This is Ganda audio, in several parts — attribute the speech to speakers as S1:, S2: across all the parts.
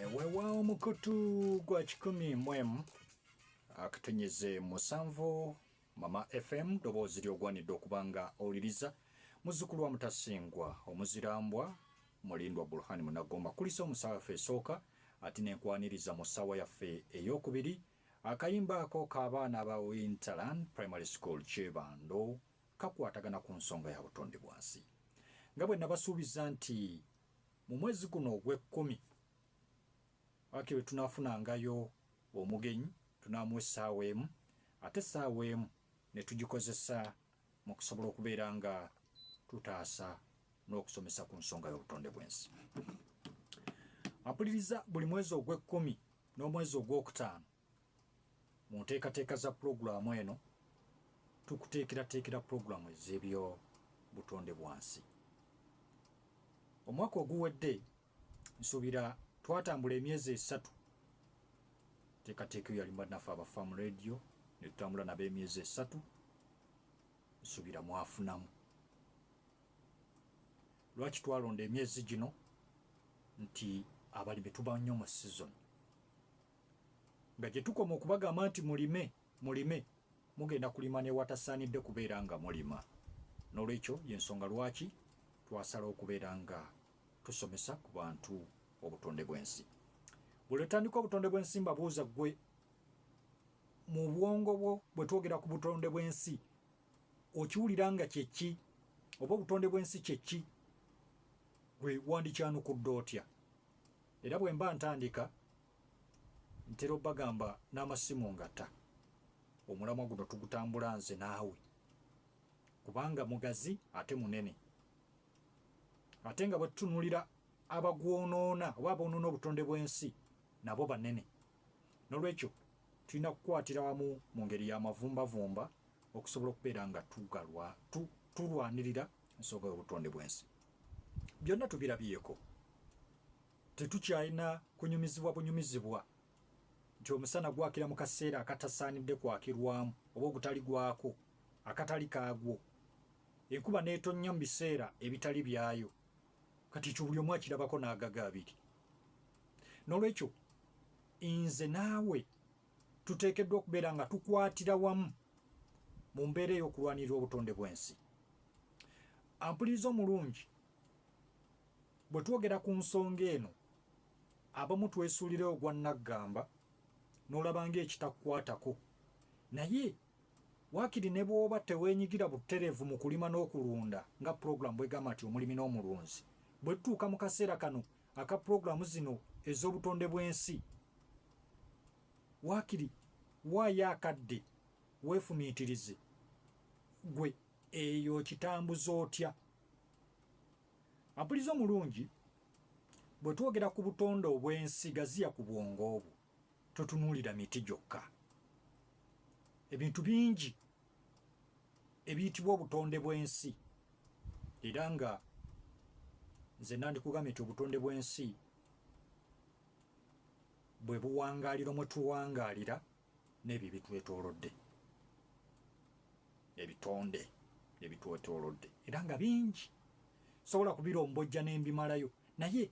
S1: Eh, wewaawo mukutu gwa kikumi mwemu akutunyeze musanvu mama fm ddoboozi lyogwanidde okuba nga owuliriza muzzukulu wa mutasingwa omuzirambwa mulindwa burhani munagomba kulisa omusawo yaffe esooka ati nenkwaniriza mu ssaawa yaffe eyokubiri akayimba ako k'abaana ba winterland primary school kyebando kakwatagana ku nsonga ya butonde bwa nsi. Nga bwe nabasuubiza nti mu mwezi guno ogw'ekkumi wakiri we tunaafunangayo omugenyi tunaamuwa essaawa emu ate essaawa emu ne tugikozesa mu kusobola okubeera nga tutaasa n'okusomesa ku nsonga y'obutonde bw'ensi. Ampuliriza buli mwezi ogw'ekkumi n'omwezi ogw'okutaano Mu nteekateeka za pulogulaamu eno, tukuteekerateekera pulogulaamu ez'ebyobutonde bwansi. Omwaka oguwedde nsuubira twatambula emyezi esatu teekateeka eyo yali naffe aba faamu radio ne tutambula nabo emyezi esatu nsuubira mwafunamu lwaki twalonda emyezi gino nti abalimi tuba nnyo mu sizoni nga gye tukoma okubagamba nti mulime mulime mugenda kulima newatasaanidde kubeera nga mulima n'olwekyo yensonga lwaki twasala okubeera nga tusomesa ku bantu obutonde bw'ensi buli otandika obutonde bw'ensi mbabuuza gwe mu bwongo bwo bwe twogera ku butonde bw'ensi okiwulira nga kyeki oba obutonde bw'ensi kyeki gwe wandikyanukudde otya Era bwe mba ntandika ntera obagamba n'amasimu ngata omulamwa guno tugutambula nze naawe kubanga mugazi ate munene ate nga bwetutunulira abagwonoona oba aboonoona obutonde bw'ensi nabo banene N'olwekyo, tulina kukwatira wamu mu ngeri ya mavumbavumba okusobola okubeera nga tugalwa, tu, tulwanirira ensonga y'obutonde bw'ensi. Byonna tubirabyeko. Tetukyalina kunyumizibwa bunyumizibwa nti omusana gwakira mu kaseera akatasaanidde kwakirwamu oba ogutali gwako akatali kaagwo, enkuba n'etonnya mu biseera ebitali byayo, kati ekyo buli omu akirabako n'agaga abiri n'olwekyo nze naawe tuteekeddwa okubeera nga tukwatira wamu mu mbeera ey'okulwanirira obutonde bw'ensi ampuliriza omulungi bwe twogera ku nsonga eno abamu twesuulira ogwa nnaggamba n'olaba ng'ekitakukwatako naye Waakiri ne bw'oba teweenyigira butereevu mu kulima n'okulunda nga pulogulaamu bw'egamba nti omulimi n'omulunzi, bwe tutuuka mu kaseera kano aka pulogulaamu zino ez'obutonde bw'ensi, waakiri waayo akadde weefumiitirize, Ggwe eyo okitambuza otya? Ampuliriza omulungi, bwe twogera ku butonde obw'ensi, gaziya ku bwongo bwo. totunuulira miti gyokka ebintu bingi ebiyitibwa obutonde bw'ensi era nga nze nandikugambye nti obutonde bw'ensi bwe buwangaaliro mwe tuwangaalira n'ebyo ebitwetoolodde ebitonde ebitwetoolodde era nga bingi sobola kubirombojja n'embimalayo naye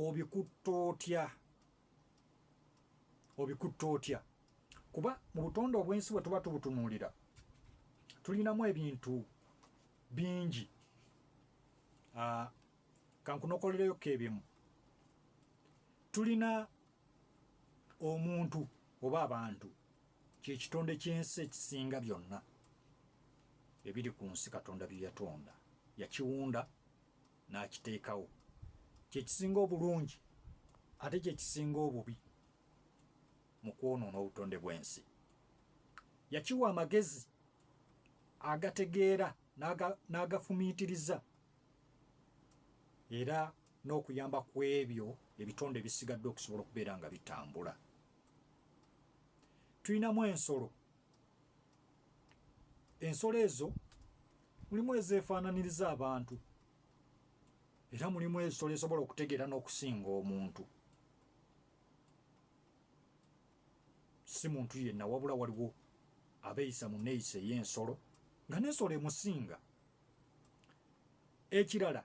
S1: obikutta otya obikutte otya kuba mu butonde obw'ensi bwe tuba tubutunuulira tulinamu ebintu bingi ah, kankunokolereyo keebimu tulina omuntu oba abantu kyekitonde ky'ensi ekisinga byonna ebiri ku nsi katonda bye yatonda yakiwunda n'akiteekawo kye kisinga obulungi ate kye kisinga obubi mu kwonoona obutonde bw'ensi yakiwa amagezi agategeera n'agafumiitiriza era n'okuyamba ku ebyo ebitonde ebisigadde okusobola okubeera nga bitambula tulinamu ensolo ensolo ezo mulimu ezeefaananiriza abantu era mulimu ensolo esobola okutegeera n'okusinga omuntu si muntu yenna wabula waliwo abeeyisa mu neeyisa ey'ensolo nga n'ensolo emusinga ekirala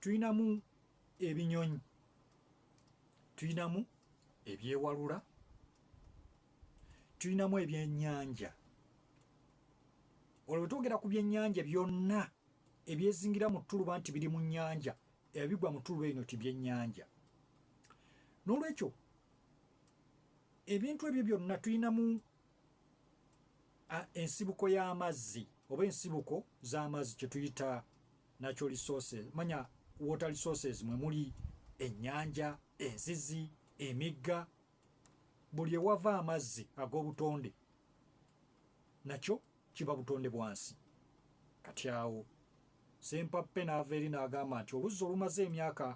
S1: tulinamu ebinyonyi tulinamu ebyewalula tulinamu ebyennyanja olwo bwetwogera ku byennyanja byonna ebyezingira mu ttuluba nti biri mu nnyanja ebigwa mu ttuluba eno ti byennyanja n'olwekyo ebintu ebyo byonna tulinamu ensibuko y'amazzi oba ensibuko z'amazzi kyetuyita natural resources manya water resources mwe muli ennyanja enzizi emigga buli ewava amazzi ag'obutonde nakyo kiba butonde bwansi kati awo sempappe n'ava eri n'agamba nti oluzzi olumaze emyaka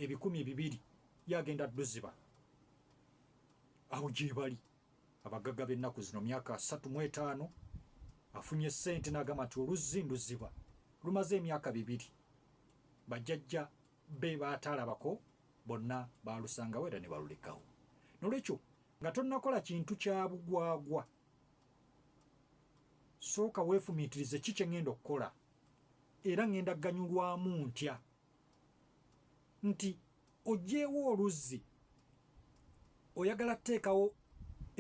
S1: ebikumi bibiri yagenda duziba awo gyebali abagaga b'ennaku zino myaka asatu mu etaano afunye ssente n'agamba nti oluzzi nduziba lumaze emyaka bibiri bajajja be bataalabako bonna baalusangawo era ne balulekawo nolwekyo nga tonnakola kintu kya bugwagwa sooka weefumiitirize ki kye ŋŋenda okukola era ŋŋenda kuganyulwamu ntya nti oggyeewo oluzzi oyagala kuteekawo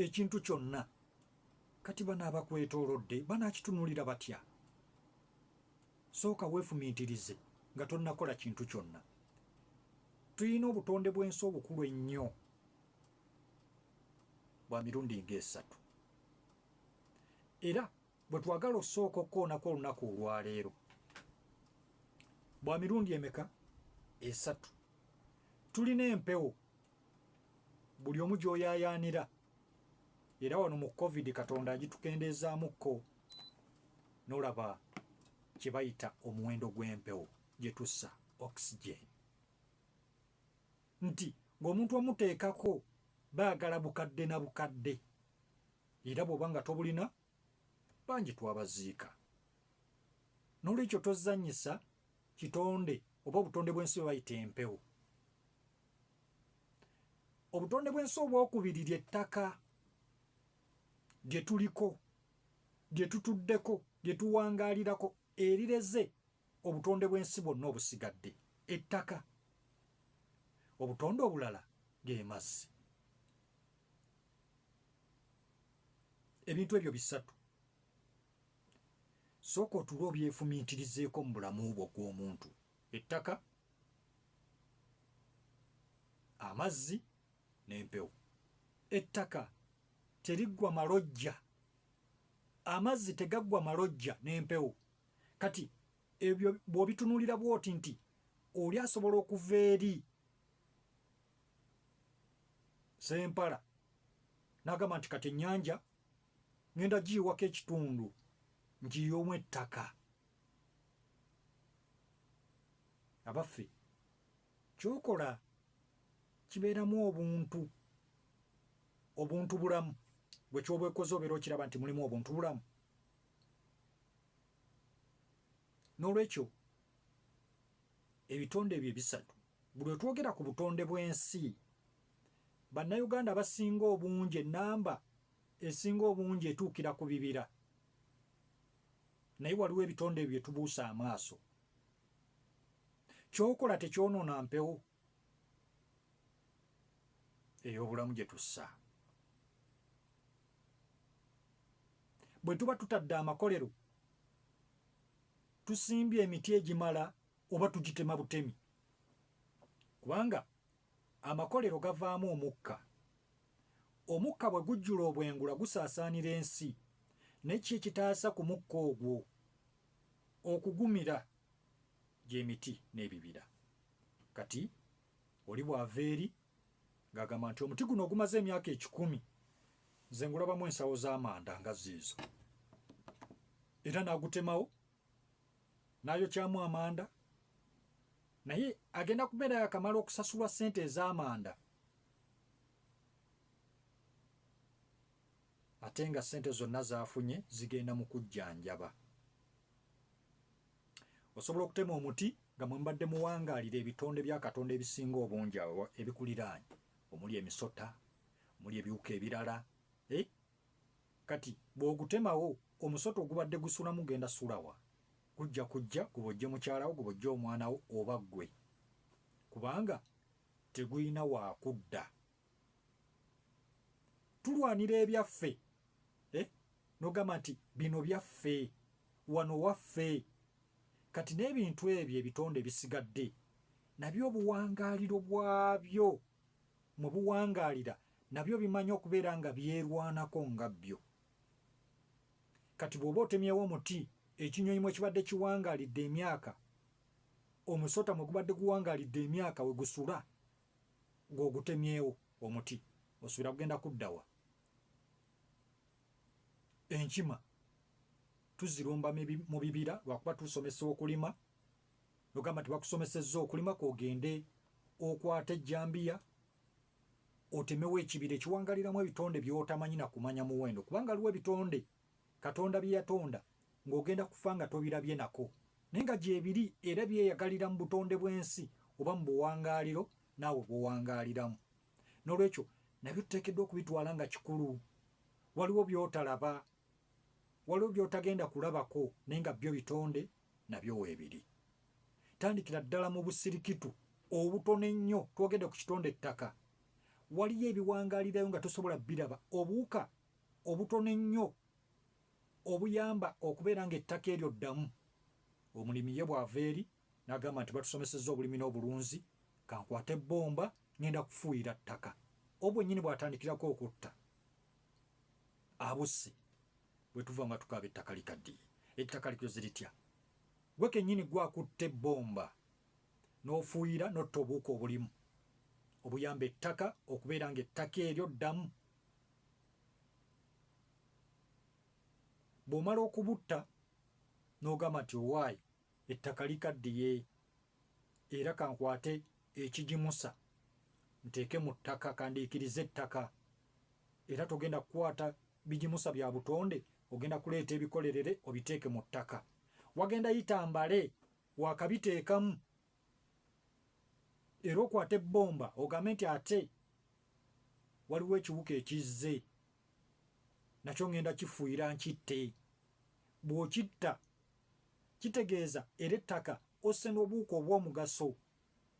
S1: ekintu kyonna kati bano abakwetoolodde banaakitunulira batya Sooka weefumiitirize nga tonnakola kintu kyonna. Tulina obutonde bw'ensi obukulu ennyo bwa mirundi ng'esatu. Era bwe twagala okusooka okukoonako olunaku olwaleero bwa mirundi emeka esatu tulina empewo buli omu gy'oyaayaanira era wano mu covid katonda agitukendeezaamukko nolaba kyebayita omuwendo gw'empewo gyetussa oxygen nti ng'omuntu omuteekako baagala bukadde na bukadde era bw'oba nga tobulina bangi twabaziika n'olwekyo tozanyisa kitonde oba obutonde bw'ensi bwe bayita empewo obutonde bw'ensi obwokubiri lye ttaka bye tuliko bye tutuddeko bye tuwangaalirako erireze obutonde bw'ensi bwonna obusigadde ettaka obutonde obulala ge mazzi ebintu ebyo bisatu sooka otuula obyefumiitirizeeko mu bulamu bwo gw'omuntu ettaka amazzi n'empewo. Ettaka teriggwa malojja, amazzi tegaggwa malojja n'empewo. Kati ebyo bw'obitunuulira bw'oti nti oli asobola okuva eri sempala n'agamba nti kati ennyanja ŋenda giyiwako ekitundu ngiyomu ettaka abaffe Kyokola kibeeramu obuntu obuntu bulamu gwe kyoba ekoze obeera okiraba nti mulimu obuntu bulamu n'olwekyo ebitonde ebyo ebisatu buli wetwogera ku butonde bw'ensi bannayuganda abasinga obungi enamba esinga obungi etuukira ku bibira naye waliwo ebitonde ebyo byetubuusa amaaso kyokola tekyonoona mpewo ey'obulamu gye tussa bwe tuba tutadde amakolero tusimbye emiti egimala oba tugitema butemi kubanga amakolero gavaamu omukka omukka bwe gujjula obwengula gusaasaanira ensi naye ki ekitaasa ku mukka ogwo okugumira gy'emiti n'ebibira. Kati oli bw'ava eri ng'agamba nti omuti guno ogumaze emyaka ekikumi nze ngulabamu ensawo z'amanda nga ziizo era n'agutemawo n'ayokyamu amanda naye agenda kubeera yakamala okusasulwa ssente ez'amanda ate nga ssente zonna z'afunye zigenda mu kujjanjaba. Osobola okutema omuti nga mwe mubadde muwangaalira ebitonde bya Katonda ebisinga obungi awo ebikuliraanye omuli emisota, omuli ebiwuka ebirala. Eh? Kati bw'ogutemawo omusota ogubadde gusulamu genda sulawa? Gujja kujja gubojje mukyalawo, gubojje omwana wo oba ggwe, kubanga tegulina waakudda. tulwanira ebyaffe eh? nogamba nti bino byaffe wano waffe kati n'ebintu ebyo ebitonde ebisigadde nabyo obuwangaaliro bwabyo mwe buwangaalira nabyo bimanyi okubeera nga byerwanako nga byo kati bw'oba otemyewo omuti ekinyonyi mwe kibadde kiwangaalidde emyaka omusota mwe gubadde guwangaalidde emyaka we gusula ng'ogutemyewo omuti osubira kugenda kuddawa? Enkima tuzirumba mu bibira lwakuba tusomesa okulima ogamba nti bakusomesezza okulima kogende okwata ejjambiya otemewo ekibira ekiwangaliramu ebitonde byotamanyi nakumanya muwendo kubanga aliwo ebitonde Katonda bye yatonda ng'ogenda kufa nga tobirabye nako, naye nga gyebiri era byeyagalira mu butonde bw'ensi oba mu buwangaaliro naawe bw'owangaaliramu. N'olwekyo nabyo tuteekeddwa okubitwala nga kikulu. Waliwo by'otalaba, waliwo by'otagenda kulabako naye nga byo bitonde nabyo weebiri. Tandikira ddala mu busirikitu obutono ennyo, twogedde ku kitonde ttaka. Waliyo ebiwangaalirayo nga tosobola biraba, obuwuka obutono ennyo obuyamba okubeera ng'ettaka eryo ddamu, omulimi ye bw'ava eri n'agamba nti batusomesezza obulimi n'obulunzi, ka nkwate bbomba ng'enda kufuuyira ttaka. Obwennyini bw'atandikirako okutta abusse bwe tuva nga tukaaba ettaka likaddiye, ettaka likoze litya? Gwe kennyini ggwe akutte bbomba n'ofuuyira n'otta obuwuka obulimu obuyamba ettaka okubeera ng'ettaka eryo ddamu. bw'omala okubutta n'ogamba nti owaaye ettaka likaddiye era kankwate ekigimusa nteeke mu ttaka kandiikirize ettaka era togenda kukwata bigimusa bya butonde ogenda kuleeta ebikolerere obiteeke mu ttaka wagenda yita mbale wakabiteekamu era okwate bbomba ogambe nti ate waliwo ekiwuka ekizze nakyo ŋŋenda kifuuyira nkitte bw'okitta kitegeeza era ettaka osse n'obuwuka obw'omugaso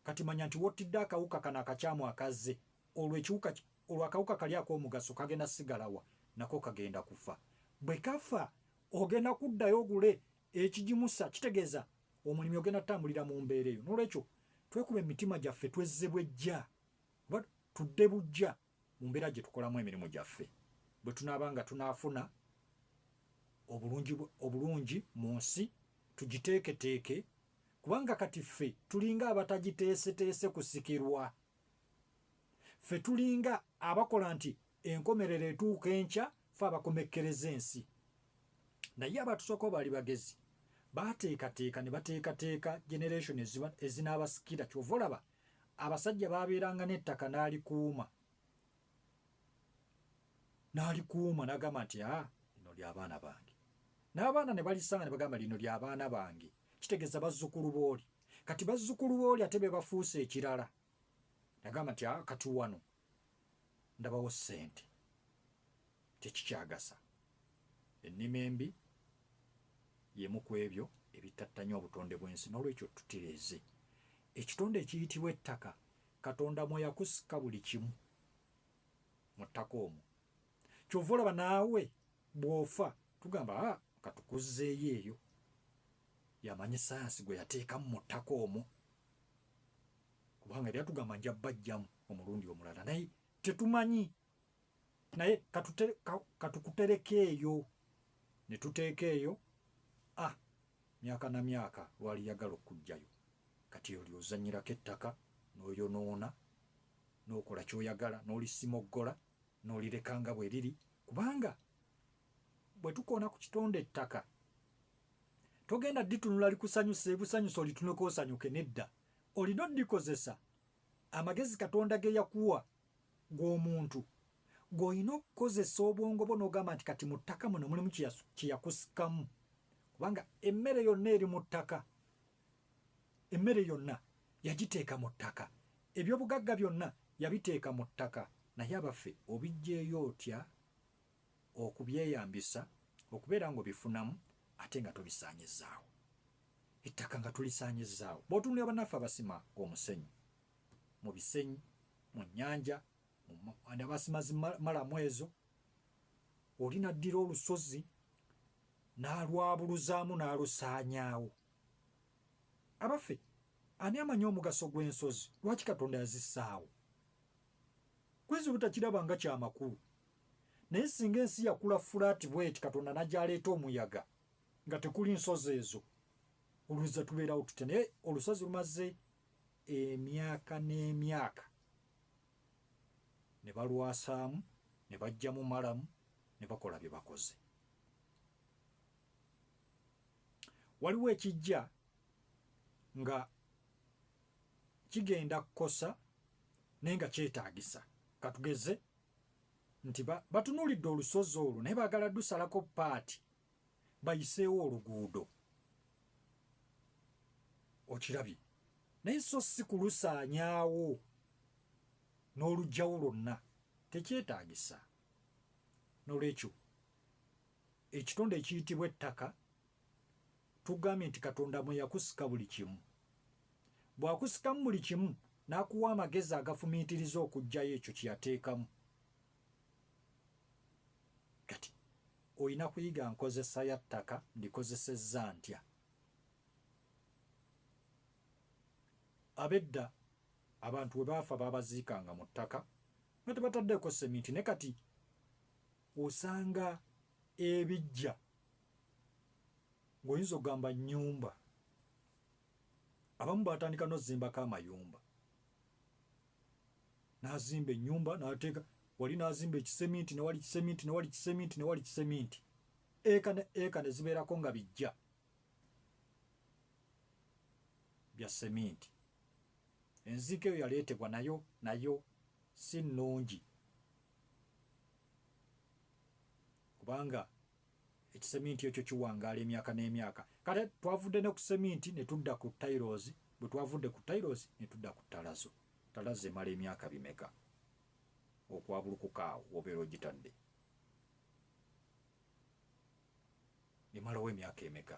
S1: kati manya nti wottidde akawuka kano akakyamu akazze olwo ekiwuka olwo akawuka kali ak'omugaso kagenda sigalawa nako kagenda kufa bwe kafa ogenda kuddayo ogule Ekigimusa kitegeeza omulimi ogenda kutambulira mu mbeera eyo. N'olwekyo twekuba emitima gyaffe twezze bwejja oba tudde bujja mu mbeera gye tukolamu emirimu gyaffe bwe tunaaba nga tunaafuna obulungi obulungi mu nsi tugiteeketeeke kubanga kati ffe tulinga abatagiteeseteese kusikirwa. Ffe tulinga abakola nti enkomerero etuuka enkya fe abakomekkereza ensi. Naye abatusookawo baali bagezi. Baateekateeka ne bateekateeka generation ezinaabasikira. Ky'ova olaba abasajja baabeeranga n'ettaka n'alikuuma. n'alikuuma n'agamba nti a ah, lino ly'abaana bange n'abaana ne balisanga ne bagamba lino ly'abaana bange kitegeeza bazzukulu booli kati bazzukulu booli ate be bafuuse ekirala nagamba nti a ah, kati wano ndabawo ssente tekikyagasa ennima embi yemu ku ebyo ebittattanya obutonde bw'ensi n'olwekyo tutereeze ekitonde ekiyitibwa ettaka Katonda mwe yakusika buli kimu mu ttaka omwo. Kyova olaba naawe bw'ofa tugamba a ah, katukuzzeeyo eyo. Yamanyi sayansi gwe yateekamu mu ttaka omwo kubanga yali atugamba nja bajjamu omulundi omulala naye tetumanyi naye katukutereka eyo ne tuteeka eyo a ah, myaka na myaka lwali yagala okujjayo kati oli ozanyirako ettaka n'oyonoona n'okola ky'oyagala n'olisimoggola n'olireka nga bwe liri kubanga bwe tukoona ku kitonde ettaka togenda ditunula likusanyusa ebusanyusa olituneko osanyuke nedda olina odikozesa amagezi katonda ge yakuwa Gwe omuntu gwe olina okukozesa obwongo bwo nogamba nti kati mu ttaka muno mulimu kyeyakusikamu kubanga emmere yonna eri mu ttaka emmere yonna yagiteeka mu ttaka ebyobugagga byonna yabiteeka mu ttaka naye abaffe obijjeeyo otya okubyeyambisa okubeera nga obifunamu ate nga tobisaanyizaawo ettaka nga tulisaanyizaawo bwotunulira banaffe abasima omusenyu mu bisenyi mu nyanja andabasimazi malamu ezo oli naddira olusozi n'alwabuluzaamu n'alusaanyaawo abaffe ani amanyi omugaso gw'ensozi lwaki katonda yazisaawo kwezi butakiraba nga kyamakulu naye singa ensi yakula fulaati bweti katonda nagyaleeta omuyaga nga tekuli nsozi ezo olweza tubeerawo tutya naye olusozi lumaze emyaka n'emyaka ne balwasaamu ne baggyamu malamu ne bakola bye bakoze waliwo ekijja nga kigenda kukosa naye nga kyetaagisa katugeze nti batunuulidde olusozi olwo naye baagala dusalako paati bayiseewo oluguudo okirabye naye so si kulusaanyaawo n'olugjawo lwonna tekyetaagisa nolwekyo ekitonde ekiyitibwa ettaka tugambye nti katonda mwe yakusika buli kimu bw'akusikamu buli kimu n'akuwa amagezi agafumiitiriza okugjayo ekyo kye yateekamu Kati olina kuyiga nkozesa ya ttaka ndikozesezza ntya? Abedda abantu bwe baafa baabaziikanga mu ttaka nga tebataddeeko seminti ne kati osanga ebijja ng'oyinza okugamba nnyumba abamu baatandika n'ozimbako amayumba n'azimba ennyumba n'ateeka wali n'azimba ekiseminti ne wali kiseminti ne wali kiseminti ne wali kiseminti eka ne eka ne zibeerako nga bijja bya seminti enziika eyo yaleetebwa nayo nayo si nnungi kubanga Ekiseminti ekyo kiwangaala emyaka n'emyaka. Kale twavudde ne ku seminti ne tudda ku tayirozi, bwe twavudde ku tayirozi ne tudda ku ttalazo. Ttalazo emala emyaka bimeka okwabulukuka awo w'obeera ogitadde? Emalawo emyaka emeka?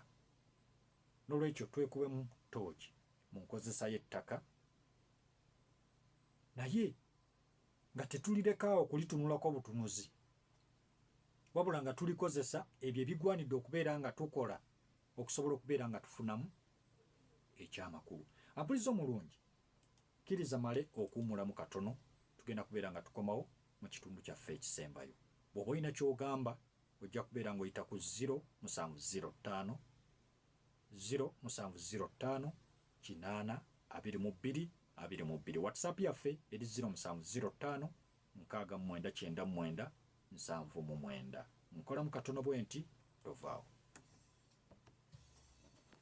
S1: N'olwekyo twekubemu ttooki mu nkozesa y'ettaka naye nga tetulirekaawo kulitunulako butunuzi. wabula nga tulikozesa ebyo ebigwanidde okubeera nga tukola okusobola okubeera nga tufunamu ekyamakulu. Ampulizza omulungi, kkiriza male okuwumulamu katono, tugenda kubeera nga tukomawo mu kitundu kyaffe ekisembayo. Bw'oba olina ky'ogamba, ojja kubeera ng'oyita ku 0 musanvu 0 ttaano 0 musanvu 0 ttaano kinaana abiri mu bbiri abiri mu bbiri. WhatsApp yaffe eri 0 musanvu 0 ttaano Nkaaga mu mwenda kyenda mu mwenda nsanvu mu mwenda. Nkolamu katono bwenti, tovaawo.